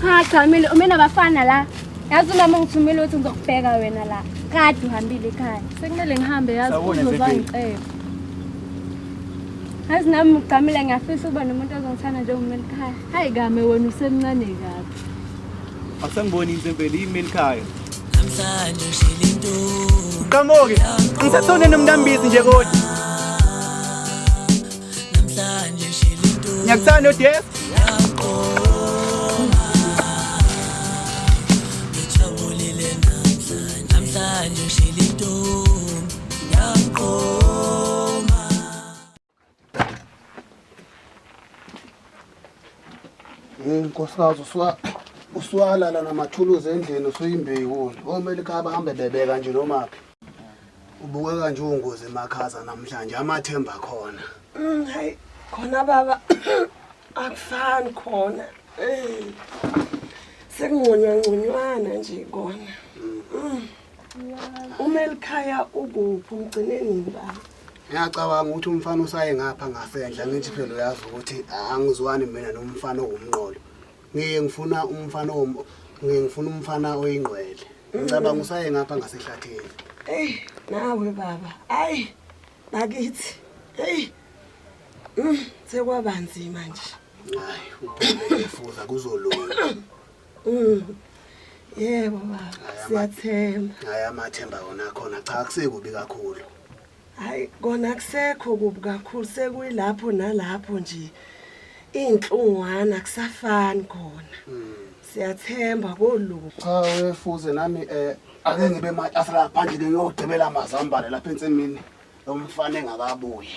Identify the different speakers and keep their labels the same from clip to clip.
Speaker 1: Cha cha mina uma nabafana la. Yazi umama ngithumile ukuthi ngizokubheka wena la. Kade uhambile ekhaya. Sekumele ngihambe yazi Sawubona, uzoba Zebheni. ngicebe. Yazi nami ngigqamile ngiyafisa ukuba nomuntu ozongithanda njengomeli ekhaya. Hayi kame wena usemncane kabi.
Speaker 2: Asangiboni insempeli yimeli khaya. Qhamuke, ngisasone nomntambizi nje kodwa. ngiyakuthanda odes Hey
Speaker 3: nkosikazi usuka usuwalala namathuluzi endlini usuyimbeyi wona. Omele khaba hambe bebeka nje nomaphi. Ubukeka nje ungozi emakhaza namhlanje amathemba khona. Mm, hayi
Speaker 4: khona baba akufani khona. Eh. Sekungconywa ngconywana nje kona. Mm. Uma elikhaya ukuphi umgcine nini baba? Ngiyacabanga
Speaker 3: ukuthi umfana usaye ngapha ngasendla ngithi phela uyazi ukuthi angizwani mina nomfana owumnqolo. ngiye ngifuna umfana ngiye ngifuna umfana oyingqwele ngicabanga usaye ngapha ngasehlathini eyi nawe
Speaker 4: baba ayi bakithi eyi mm, sekwaba nzima nje hayi
Speaker 3: ufuza kuzolunga mm.
Speaker 4: yebo baba siyathemba hayi amathemba
Speaker 3: wona khona cha akusekubi kakhulu hayi
Speaker 4: kona kusekho kubi kakhulu sekuyilapho nalapho nje iy'nhlungwana kusafani khona hmm. siyathemba koluku cha wefuze
Speaker 3: nami um ake ngibe matafula ngaphandle ngiyogcibela amazambane lapha ensimini lo mfana engakabuyi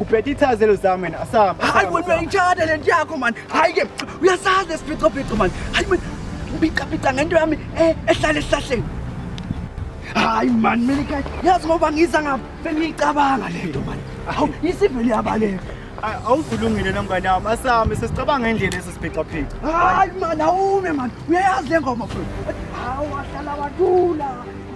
Speaker 2: ubhede
Speaker 3: ithazelo zami wena asihamba hayi wena uyayitshada
Speaker 2: le nto yakho mani hayi ke uyasazi lesiphicopico mani hayi mani ubicapica ngento yami eh, ehlala esihlahleni hayi mani mina ikhaya yazi ngoba ngiza ngapha bengiyicabanga le nto mani hawu isivele yabaleka awuvulungile
Speaker 3: nomngane wami asihamba sesicabanga indlela esi siphicaphika hayi mani
Speaker 2: awume mani uyayazi le ngoma futhi hawu wahlala wathula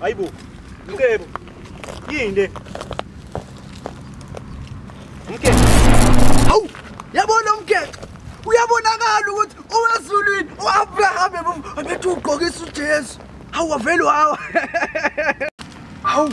Speaker 5: Hayibo. Mkebo. Yini le? Mkebo. Awu,
Speaker 2: yabona umkhexe. Uyabonakala ukuthi owezulwini uAbraham ebethu ugqokisa uJesu. Hawu wavele wawa. Hawu.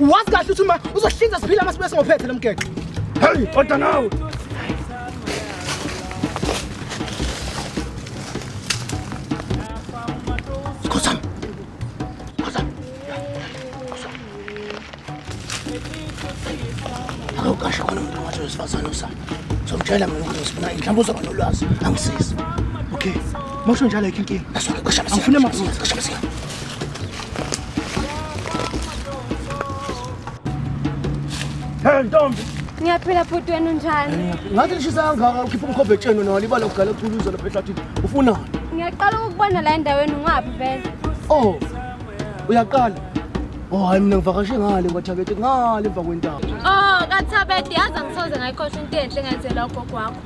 Speaker 3: wazi kahle ukuthi uma uzohlinza siphila masibe singophethe lo mgexo
Speaker 5: heyi
Speaker 3: oda nawe awukasho khona umuntu ongathi wesifazane usana somtshela mina ukuthi sifuna mhlawumbe uzoba nolwazi angisizi okay mosho njalo yikho inkinga angifune maphutha
Speaker 5: Hey ntombi. Ngiyaphila bhuti wena
Speaker 1: unjani? Ngathi lishisa kangaka
Speaker 3: ukhipha umkhobhe etsheni nalo ibala kugala uthuluza lapha ehlathini. Ufunani? Ngiyaqala ukubona
Speaker 1: la endaweni ungaphi vele. Oh.
Speaker 3: Uyaqala. Oh hayi mina ngivakashe ngale kwaThabete ngale emva kwentaba. Oh kaThabete
Speaker 1: yazi angisoze ngayikhosha into enhle ngenzela ugogo wakho.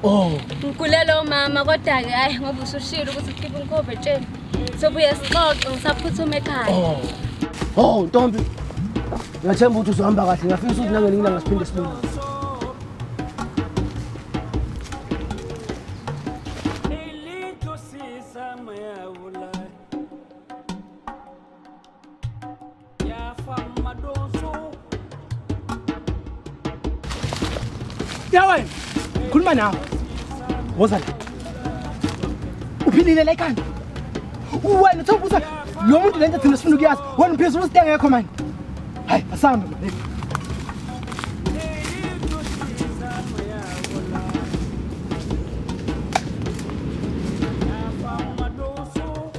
Speaker 1: Oh.
Speaker 3: Ngigulela
Speaker 1: umama kodwa ke hayi ngoba usushilo ukuthi ukhipha umkhobhe etsheni. Sobuye sixoxe ngisaphuthume ekhaya. Oh. Oh,
Speaker 3: Ntombi. Ngiyathemba ukuthi uzohamba kahle. Ngiyafisa ukuthi nangelinye ilanga siphinde sibone. Ya wena, khuluma nawe. Woza la. Uphilile la ekhanda. Wena uthe ubuza lo muntu lento thina sifuna ukuyazi. Wena uphezulu usite ngekho manje. Hayi, asambe manje.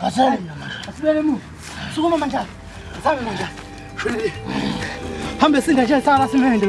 Speaker 2: Asale. Asibele mu. Sukuma manjalo. Sami manjalo. Shwele. Hambe sinda nje sala simende.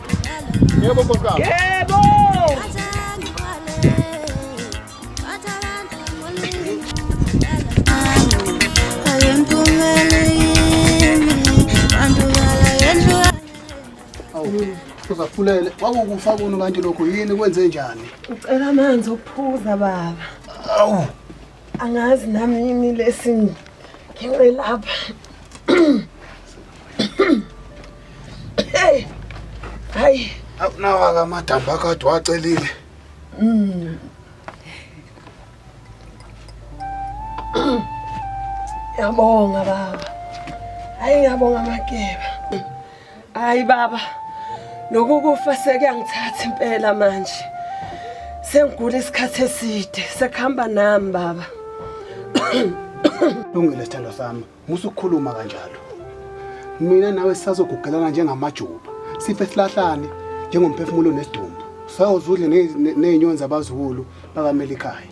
Speaker 3: Yebo nkosi wami. Yebo. Uzafulele wakukufa kuno kanti lokho yini kwenze njani? Ucela amanzi
Speaker 4: okuphuza baba. Awu.
Speaker 3: angazi
Speaker 4: nami yini lesi ngenxe lapha hey hayi awunawaka
Speaker 3: amadamba akade wacelile
Speaker 4: mm. yabonga baba hayi ngiyabonga makeba Hayi baba. Nokukufa sekuyangithatha impela manje. Sengigula isikhathi eside, sekuhamba nami baba.
Speaker 3: Lungile sithandwa sami, musa ukukhuluma kanjalo. Mina nawe sisazogugelana njengamajuba. Sife silahlane njengomphefumulo nesidumbu. Sawuzudle nezinyoni zabazulu bakamelikhaya.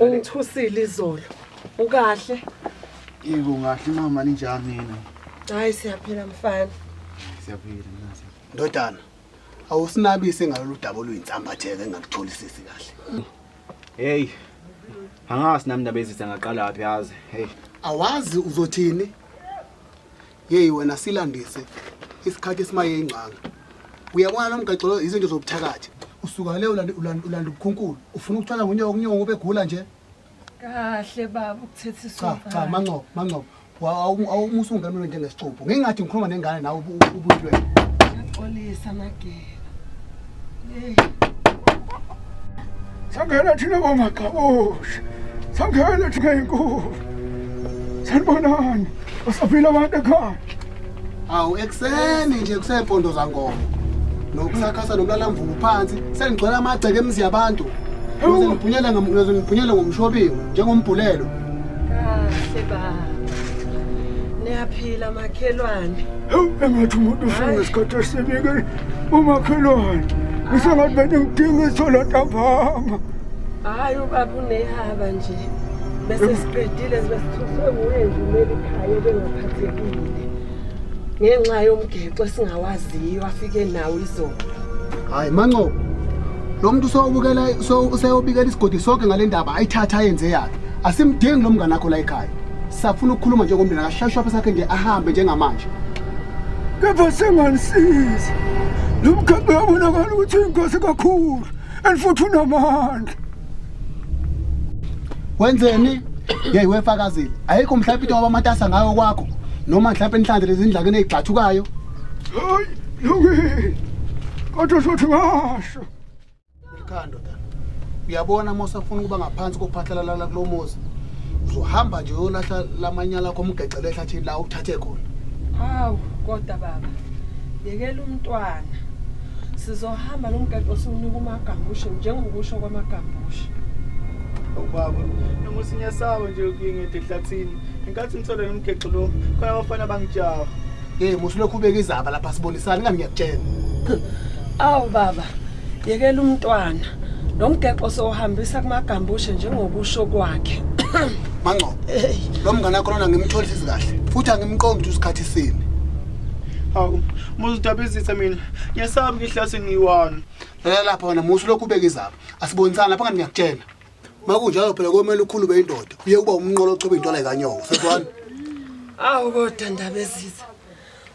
Speaker 4: Ungithusile
Speaker 2: izolo.
Speaker 4: Ukahle? Yebo
Speaker 2: ngahle mama ninjani nina? Hayi siyaphila
Speaker 4: mfana. Siyaphila
Speaker 2: mnazi. Ndodana,
Speaker 3: awusinabise ngalolu daba oluyinsambatheke engakutholisisi kahle. Hey.
Speaker 2: Angazi nami ndabezitha ngaqala phi yazi. Hey. Awazi
Speaker 3: uzothini? yeyi wena silandise isikhathi esimaye ingcanga uyabona lo mgaxo lo izinto zobuthakathi usuka le ulanda ulanda- ulanda ubukhunkulu ufuna ukuthwala ngunyoko unyoko ubegula nje kahle
Speaker 4: baba ukuthethiswa cha cha mancobo mancobo
Speaker 3: awumusa ungenule njengesixubhu ngingathi ngikhuluma nengane nawe ubu- ubuyilwela xolisa
Speaker 4: nage
Speaker 5: Sangena thina bomagxabosha. Sangena thina inkulu. Sanibonani. Usaphila abantu ekhaya. Awu
Speaker 3: ekseni nje kusempondo zankomo. Nokusakhatha nomlala mvubu phansi sengigcwele amagceke emzi yabantu. Ngize ngibhunyele ngize ngibhunyele ngomshobingo njengombhulelo. Kahle
Speaker 4: baba. Niyaphila makhelwane. engathi umuntu
Speaker 5: ufuna ngesikhathi esinike umakhelwane ngisengathi bene ngidinga ithola ntambama hhayi
Speaker 4: ubaba unehaba nje bese siqedile zibe sithuswe nguye nje umeli ikhaya ebengaphathekile ngenxa yomgexo esingawaziyo afike nawo izolo hhayi mancobo
Speaker 3: lo muntu useyobikela isigodi sonke ngale ndaba ayithatha ayenze yakhe asimdingi lo mngane akho la ekhaya safuna ukukhuluma njengomndeni akashayishe wapha sakhe nje ahambe njengamanje kepha
Speaker 5: senganisiza lo mkhambi uyabonakala ukuthi uyinkosi kakhulu and futhi unamandla
Speaker 3: wenzeni yeyi wefakazile ayikho mhlawumbe into ngoba amatasa ngayo kwakho noma mhlawumbe inhlanze lezindlakeni eyigxathukayo hayi
Speaker 5: lokini kodwa sothi ngasho Ikhando
Speaker 3: da. Uyabona Mosa ufuna ukuba ngaphansi kophathalalala kulomuzi. Uzohamba nje uyolahla lamanyala akho umgexele ehlathini la uthathe khona. Hawu
Speaker 4: kodwa baba. Yekela umntwana. Sizohamba lomgexo siwunika umagambushe njengokusho kwamagambushe.
Speaker 2: ubaba noma usinyasaba nje ukuyingede ehlathini ngenkathi ngithole nomgexo lo khona abafana bangijaha Hey musilokhu
Speaker 3: ubeka izaba lapha sibonisana ngani ngiyakutshela.
Speaker 4: Awu baba, yekela umntwana. Lo mgexo sohambisa kumagambushe njengokusho kwakhe. Mangcobo.
Speaker 3: Lo mngane wakho lona ngimtholisa izikahle futhi angimqondi ukuthi usikhathi sini. Hawu,
Speaker 2: muzidabizise mina. Ngiyasabi ngihlase ngiwani. Lalela lapha wena
Speaker 3: musilokhu ubeka izaba. Asibonisana lapha ngani ngiyakutshela. makunjalo phela komele ukhulume indoda uye kuba umnqolo ochoba into lekanyoka seswani awu
Speaker 4: kodwa ndaba eziza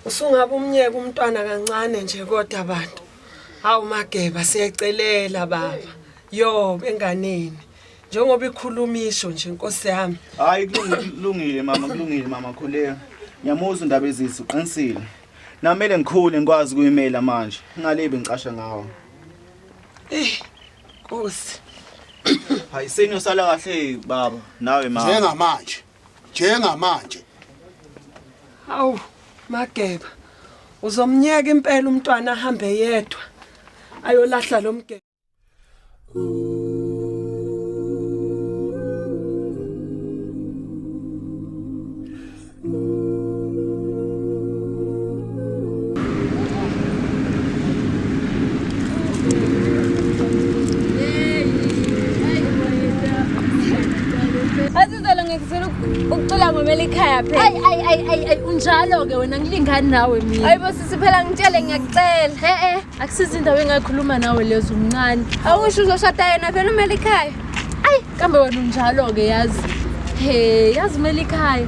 Speaker 4: usungaba umnyeke umntwana kancane nje kodwa abantu hawu mageba siyacelela baba yo enganeni njengoba ikhuluma isho nje inkosi yami hayi kulungile
Speaker 2: mama kulungile mama khuleka ngiyamuzwa indaba ezisi uqinisile namele ngikhule ngikwazi kuyimela manje ngalebi ngicasha ngawo eh
Speaker 4: Nkosi.
Speaker 2: Hayi senyo sala kahle baba nawe mama. Njengamanje. Njengamanje.
Speaker 4: Awu mageba. Uzomnyeka impela umntwana ahambe yedwa. Ayolahla lo mgeba.
Speaker 1: ukucula ngomela ikhaya phela ayi ayi ayi ayi unjalo-ke wena ngilingani nawe mina ayibo sisi phela ngitshele ngiyakucela e-e akusizi indawo engakhuluma nawe lezo umncane awusho uzoshada yena vele umele ikhaya ayi kambe wena unjalo-ke yazi he yazi umele ikhaya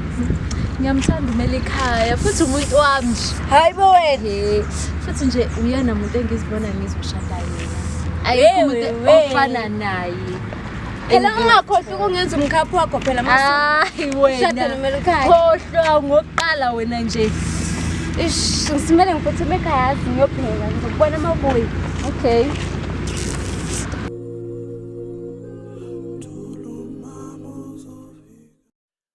Speaker 1: ngiyamthanda umele ikhaya futhi umuntu wami nje hayi bo wena he futhi nje uyena muntu engizibona ngizoshada yena ayikho umuntu ofana naye phela ungakhohlwa ukungenza umkhaphi wakho phela hayi wenakhohlwa ngokuqala wena nje ish ngisimele ngiphuthuma ekhaya yazi ngiyophela ngizokubona uma ubuye okay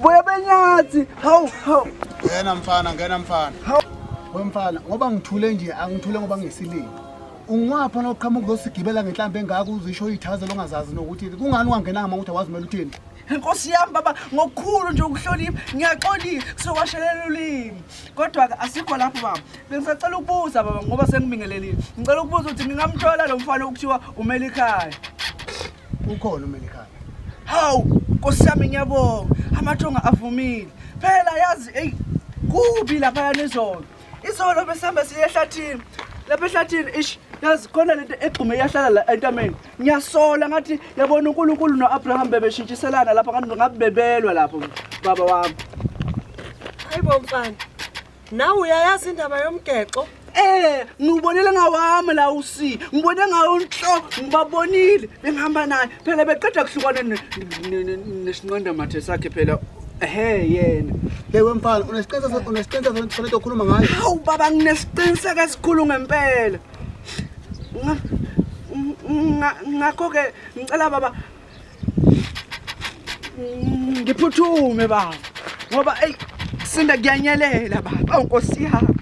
Speaker 2: Boya benyathi. Hawu, hawu. Ngena
Speaker 3: mfana, ngena mfana. Hawu. We mfana, ngoba ngithule nje, angithule ngoba ngesilimi. Ungwapha noqhamuka uzosigibela ngenhlambe engaka uzisho uyithaze longazazi nokuthi kungani ungangenanga uma ukuthi awazimela uthini. Nkosi yami baba
Speaker 2: ngokukhulu nje ukuhlonipha ngiyaxolile kusewashelela ulimi kodwa ke asikho lapho baba bengisacela ukubuza baba ngoba sengibingelelile ngicela ukubuza ukuthi ngingamthola lo mfana okuthiwa umelikhaya
Speaker 3: Ukhona uMelikhaya. Hawu,
Speaker 2: Nkosi yami ngiyabonga. Amathonga avumile. Phela yazi ey kubi lapha yanizolo. Izolo besihamba siye ehlathini. Lapha ehlathini ish yazi khona lento egxume yahlala la entameni. Ngiyasola ngathi yabona uNkulunkulu noAbraham bebeshintshiselana lapha ngathi ngabe bebelwa lapho baba wami.
Speaker 4: Hayibo mfana. Nawe uyayazi indaba yomgexo? Eh, ngibonile
Speaker 2: ngawami la usi. Ngibone ngawo unhloko, ngibabonile bengihamba naye. Phela beqeda kuhlukana nesinqanda mathe sakhe phela Ehhe yena. Lewe mfana
Speaker 3: unesiqiniseko unesiqiniseko sokuthi kufanele ukhuluma ngayo. Hawu baba
Speaker 2: nginesiqiniseko esikhulu ngempela. Ngakho ke ngicela baba ngiphuthume baba ngoba eyi kusinda kuyanyelela baba awu nkosi yami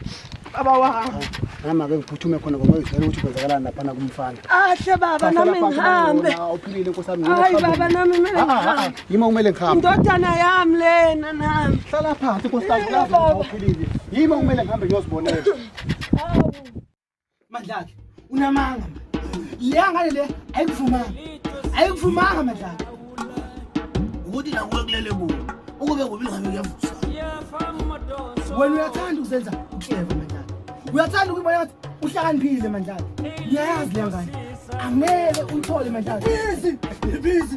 Speaker 2: baba wami nami ake ngiphuthume
Speaker 3: khona ngoba ngizela ukuthi kwenzakalani laphana kumfana ahle baba
Speaker 4: nami ngihambe uphilile nkosi yami
Speaker 3: hayi baba nami kumele
Speaker 4: ah, ah, ah, ngihambe yima kumele ngihambe
Speaker 3: indodana yami
Speaker 4: lena nami hlala phansi nkosi yami
Speaker 3: uphilile yima kumele ngihambe ngiyozibonela
Speaker 2: Mandlakhe unamanga. Le ngane le ayikuvumanga. Ayikuvumanga mandlakhe.
Speaker 6: Ukuthi la kulele kuwe. Ukube kubi ngabe kuyavusa.
Speaker 2: Wena uyathanda ukuzenza uhleva mandlakhe. Uyathanda ukubona ngathi uhlakaniphile mandlakhe. Uyayazi le ngane. Angeke uyithole mandlakhe. Busy. Busy.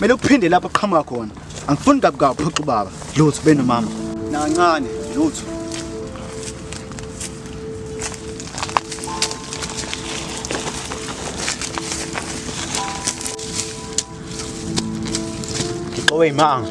Speaker 2: Mele uphinde lapho qhamuka khona. Angifuni kabi kabi phoxa ubaba. Lutho benomama. Nancane, lutho. Owe imanga.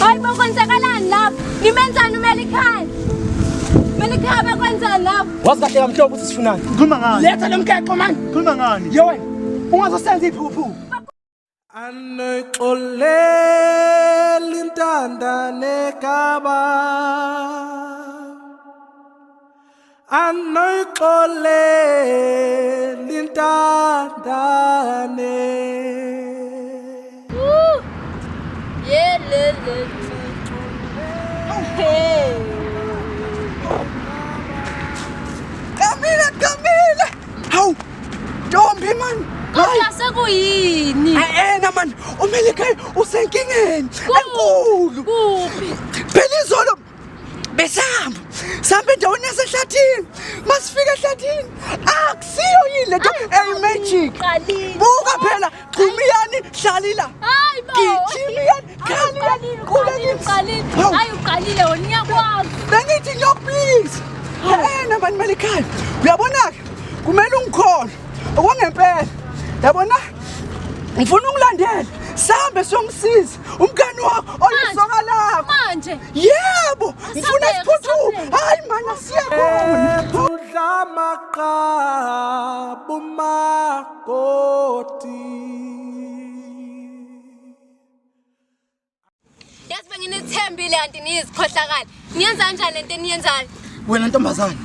Speaker 1: Hayi bo kwenzakalani lapha? Nimenzani uMelikhaya? Melikhaya bakwenzani lapha? Wazi kahle kamhlobo ukuthi
Speaker 2: sifunani. Khuluma ngani? Letha lomkexo manje.
Speaker 6: Khuluma ngani? Yo
Speaker 2: wena. Ungazosenza iphuphu.
Speaker 7: Anoyixoleli intandane kaba anoyixoleli intandane
Speaker 2: Kamile, Kamile! Hawu! Ntombi man! Kodwa sekuyini?
Speaker 1: Ayena man,
Speaker 2: uMelikayi usenkingeni enkulu. Kuphi?
Speaker 1: Phela izolo
Speaker 2: besihamba sihamba endaweni yasehlathini masifika ehlathini akusiyo yini lento eyimagic buka phela gxumiyani hlalila
Speaker 1: gijimiyani khaliyani bengithi nyo
Speaker 2: please ena bantu balikhaya uyabona-ke kumele ungikhona okwangempela yabona ngifuna ungilandele sihambe siyomsiza umngani wakho oyisoka lakho manje
Speaker 1: yebo
Speaker 2: ngifuna siphuthume hayi mana siya khona thudla
Speaker 7: maqabu makoti
Speaker 1: yazi benginithembile kanti niyizikhohlakali Niyenza kanjani lento eniyenzayo? Wena ntombazane.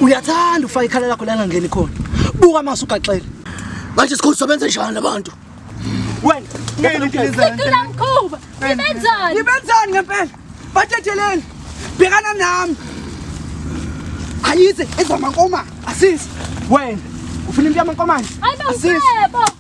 Speaker 2: Uyathanda ufaka ikhala lakho la ngangeni khona. Buka mase ugaxele. Manje sikhulu sobenze njani labantu? Wena, ngeke ngizenzele.
Speaker 1: Ngicela mkhuba. Ngibenzani?
Speaker 2: Ngibenzani ngempela? Bathetheleni. Bhekana nami. Ayize ezamankoma. Asisi. Wena, ufuna into yamankomane? Asisi.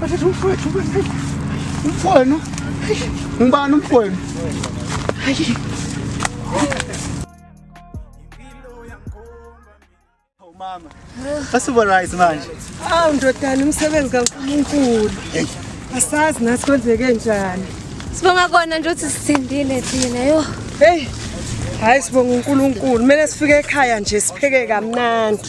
Speaker 2: Bathatha
Speaker 3: umfowethu kwenzeni? Umfowenu?
Speaker 2: Ngubani
Speaker 8: umfowenu? Hayi. Mama. Asubonise manje. Awu ndodana
Speaker 4: umsebenzi kaNkulunkulu. Asazi nathi kwenzeke njani. Sibonga kona
Speaker 1: nje ukuthi sisindile thina yo. Hey.
Speaker 4: Hayi sibonga uNkulunkulu. Kumele sifike ekhaya nje sipheke kamnandi.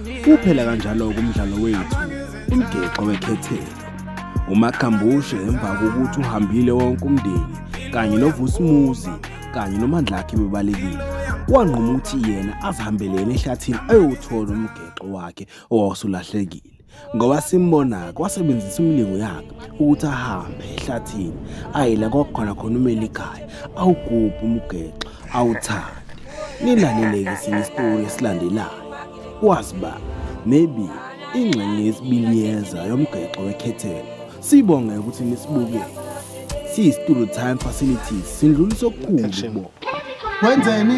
Speaker 9: Uphela kanjalo-ke
Speaker 10: umdlalo wethu umgexo wekhethelo umakhambushe emva kokuthi uhambile wonke umndeni kanye novusimuzi kanye nomandlakhe bebalekile wanquma ukuthi yena azihambelela ehlathini ayowuthola umgexo wakhe owawusulahlekile ngoba simbona-ke wasebenzisa imilingo yakhe ukuthi ahambe ehlathini ayi la kwakukhona khona umeli ikhaya awugubhe umgexo awuthande nilaleleke sinye isitori esilandelayo kwazi ba maybe ingxenye yesibili yeza yomgexo wekhethelo sibonge ukuthi nisibukele siyi-studio time facilities sindlulisa okukhulu bo wenzeni